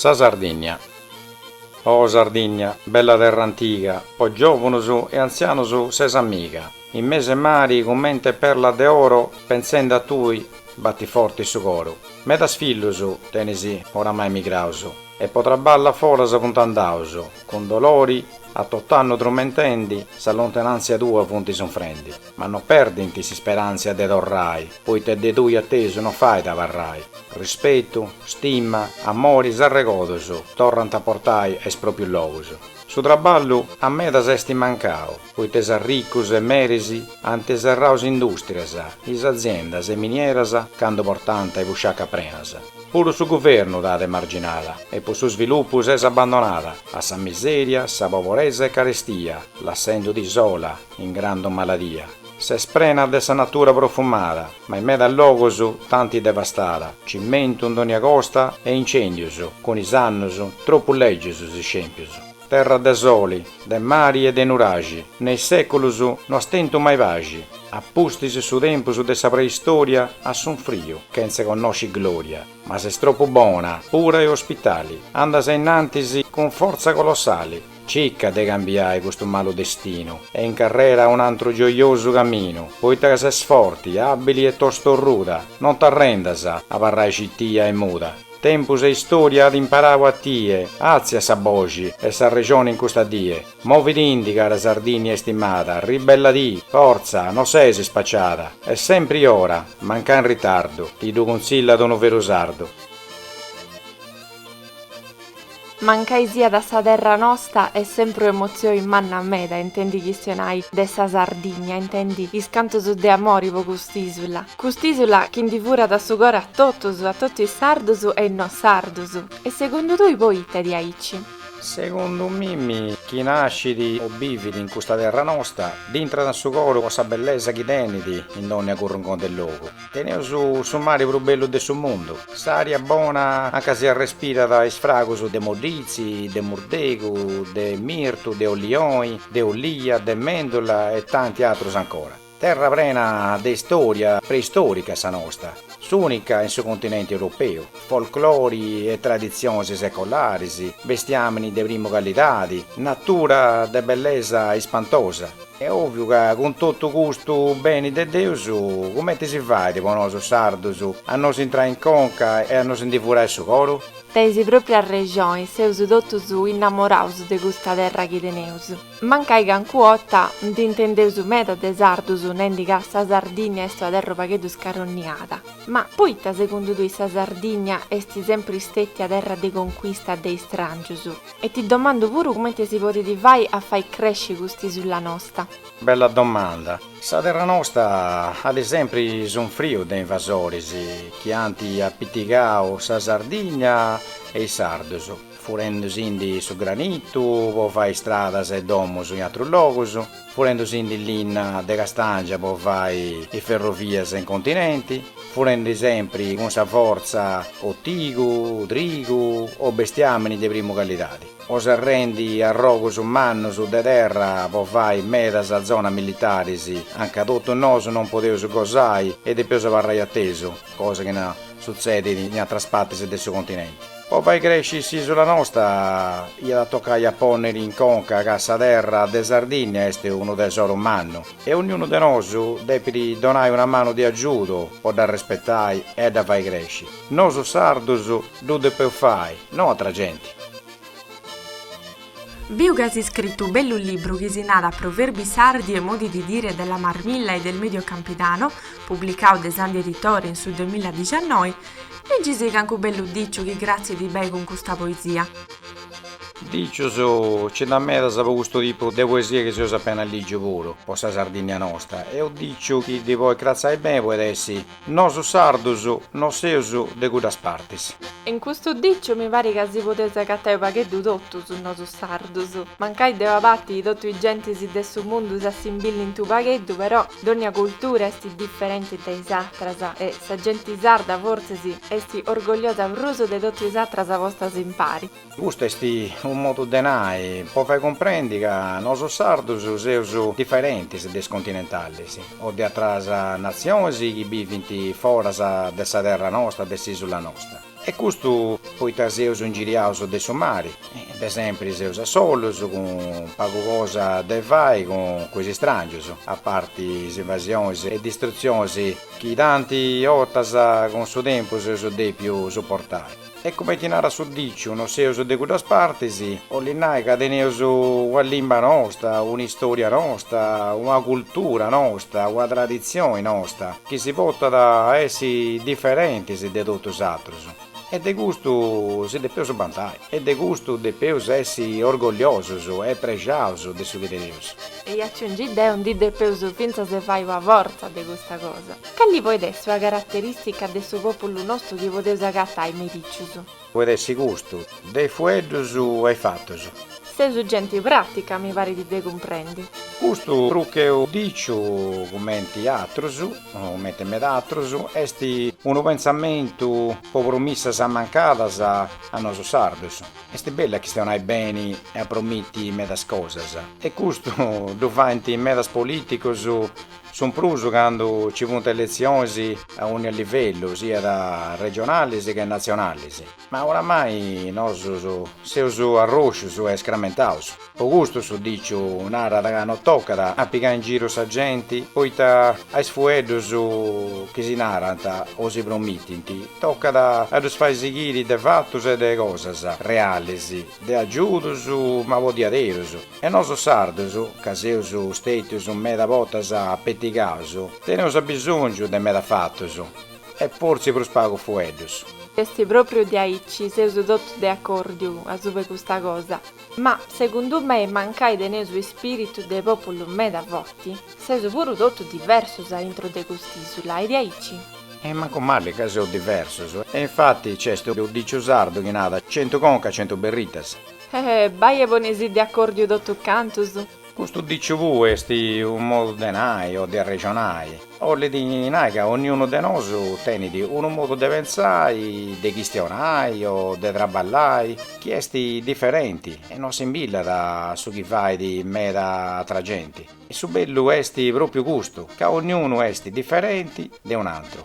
Sa Sardìnnia Oh Sardìnnia, bella terra antiga, po giòvanos e antzianos ses amiga. In mese mari cumente perla de oro pentzende a tui batit forti su coru. Medas fillus tenis oramai migraus. E po traballa foras funt andaus, cun dolori, a tot'annu trumentendi, sa lontanàntzia tua funt sunfrendi. Ma no perdint s'isperàntzia de torrai, poita de tui a tesu no fait abarrai. Rispetu, stima, amori, s'arregodus, torrant a portai a is pròprius logus. Su traballu a medas est mancau. poita is arricus e meris ant serrau is industrias, is aziendas e minieras candu portanta is busciacas prenas. Puru su guvernu t'at emarginada e po su svilupu ses abandonada a sa miseria, sa poboresa e carestia, lassendu·ti sola in grandu maladia. Ses prena de sa natura profumada, ma in medas logus tanti devastada, cimentu in donia costa e incendius, cun is annus tropu legius is scempius. Terra de soli, de mari e de nuraxi, in is seculus no as tentu mai paxi, a pustis su tempus de sa preistoria as sunfriu chentze connosci gloria, ma ses tropu bona, pura e ospitali, andas a innantis cun fortza colossali, cicca de cambiai custu malu destinu e incarrera a un'antru gioiosu caminu, poita ca ses forti, abili e tostorruda, non t'arrendas a abarrai citia e muda. Tempus e istoria at imparau a tie, atzia sa boxi e s'arrexoni in custa die, movidindi cara Sardinia istimada, ribelladi, fortza, no sesi spacciada, est sempri in ora, mancai in ritardu, ti ddu cunzillat unu veru sardu. Mancai siat sa terra nosta est sempru emozioi manna meda intendi chistionai de sa Sardigna intendi is cantus de amori po cust'isula, cust'isula chi ndi furat su coru a totus, a totu is sardus e is no sardus. E segundu tui poita est aici? Segundu mimi chini nascit o bivit in custa terra nosta dd'intrat in su coru po sa bellesa chi tenit in dònnia currunconti e logu. Teneus su mari prus bellu de su mundu, s'ària bona anca si arrespirant is fragus de moditzi, de murdegu, de mirtu, de ollioni, de ollia, de mèndula e tanti atrus ancora. Terra prena de istòria preistòrica sa nosta, s'ùnica in su continenti europeu, folclori e traditzionis secolaris, bestiàmini de primu calidadi, natura de bellesa ispantosa. Est òviu ca cun totu custu beni de Deus, cumenti si fait po nosu sardus a nos intrai in conca e a nos ndi furai su coru? Teis propriu arrexoni, seus totus innamoraus de custa terra chi teneus. Mancai cancu 'otta ndi intendeus meda de sardus nendi ca sa Sardinnia est una terra upagheddu scaronniada. Ma poita segundu tui sa Sardinnia est sempri stetia terra de concuista de istrangius? E ti domandu puru cumenti si podit fai a fai cresci cust'isula nosta. Bella domanda. Sa terra nosta at sempri sunfriu de invasoris chi ant apitigau sa Sardigna e is sardus, furendusindi su granitu po fai stradas e domus in atrus logus. furendusindi linna de castàngia po fai is ferrovias in continenti, furendi sempri cun sa fortza o tigu, trigu o bestiàmini de primu callidadi, o serrendi arrogus mannus de terra po fai medas zonas militaris, a nca totus nosu non podeus gosai e depeus abarrai a tesu, cosa chi no sutzedit in atras partis de su continenti. Po fai cresci s'isula nosta iat a tocai a ponniri in conca ca sa terra de Sardinnia est unu tesoru mannu e ognunu de nosu depit donai una manu de agiudu po dda respetai e a dda fai cresci. Nosu sardus ddu depeus fai, no atra genti. Biu chi as iscritu unu bellu libru chi si narat Proverbi sardi e modi di dire della Marmilla e del Medio Campidano, publicau de Sandi Editore in su duamiladiciannoi, Leggisi cancu bellu diciu chi cratzit beni cun custa poesia. Dicius, Ci nd'at medas po custu tipu de poesia chi seus apena lìgiu puru po sa Sardìnnia nosta e unu diciu chi ddi podit cratzai beni podit essi, Nosu sardus no seus de cuddas partis. In custu diciu mi parit ca si podeus agatai u pagheddu totus nosu sardus. Mancai de una parti totu is gentis de su mundu s'assimbilint u pagheddu però dònnia cultura est diferenti de is atras e sa genti sarda fortzis est orgogliosa prus de totu is atras postas impari. Custu est unu modu de nai po fai cumprendi ca nosu sardus seus diferentis de is continentalis o de atras natzionis chi bivint foras de sa terra nosta, de s'isula nosta. E custu poita seus ingiriaus de su mari, de sempri seus a solus cun pagu cosa de fai cun is istrangios, a parti is invasionis e distrutzionis chi tanti 'ortas cun su tempus seus depiu suportai. E cumenti narat su diciu, no seus de cuddas partis. Bollit nai ca teneus una limba nosta, un'istoria nosta, una cultura nosta, una traditzioni nosta, chi si portant a essi diferentis de totu is atrus. E de custu si depeus bantai. E de custu depeus essi orgogliosus e prexaus de su chi teneus. E aciungiu deu, ndi depeus fintzas fai una fortza de custa cosa. Cali podit essi una caraterìstica de su pòpulu nostru chi podeus agatai me is dicius? Podit essi custu, de is fueddus a is fatus. Seus genti pràtica, mi parit de cumprendi. Custu prus che u diciu, cumenti atrus, cumenti meda atrus, est unu pentzamentu po promissas ammancadas a nosu sardus. Est bellu a chistionai beni e a promiti medas cosas. E custu ddu faint medas polìticus Su prus candu ci funt eletzionis a ònnia livellu, siat regionalis che natzionalis. Ma oramai nosus seus arroscius e scramentaus. Po custu su diciu narat ca no tocat a pigai in giru sa genti poita a is fueddus chi si narant o si promitint tocat a ddus fai sighiri de fatus e de cosas realis, de agiudus ma po diaderus. E nosu sardus, ca seus stètius meda botas apetigaus, teneus abisòngiu de meda fatus, e fortzi prus pagu fueddus. Est pròpriu diaici, seus totus de acòrdiu asuba 'e custa cosa. Ma, segundu mei, mancai teneus ispìritu de pòpulu meda forti, seus puru totus diversos a intro de cust'ìsula, est diaici. E mancu mali ca seus diversos. E infati nc'est unu dìciu sardu chi narat, centu conca, centu berritas. Eh, bai e ponisì de acòrdiu totu cantus. Custu diciu puu est unu modu de nai o de arrexonai, bollit nai ca onniunu de nosu tenit unu modu de pentzai, de chistionai o de traballai chi est diferenti e no assimbillat a su chi fait meda atra genti. Su bellu est pròpiu custu, ca onniunu est diferenti de un'antru.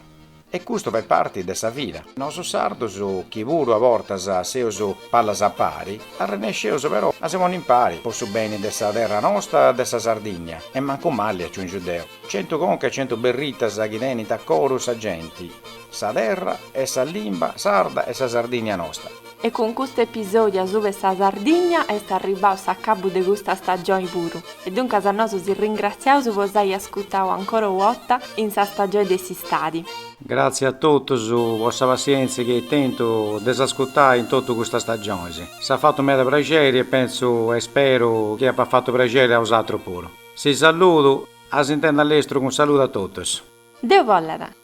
E custu fait parti de sa vida. Nosu sardus, chi puru a bortas seus pallas a pari, arrennesceus però a si ponni impari po su beni de sa terra nosta e de sa Sardigna e mancu mali aciungiu deu. Centu conca e centu berritas chi tenint a coru sa genti, sa terra e sa limba sarda e sa Sardigna nosta. E cun custu episòdiu asuba 'e sa Sardigna est arribbau s'acabu de custa stagioni puru, e duncas a nosu si ringratziaus po s'ai ascutau ancora u otta in sa stagioni de s'istadi. Gràtzias a totus po sa passièntzia chi eis tentu de s'ascutai in totu custas stagionis. S'at fatu meda praxeri e pentzu e speru chi apat fatu praxeri a osatrus puru. Si saludu, a s'intendi a lestru un saludu a totus. Deu bollat.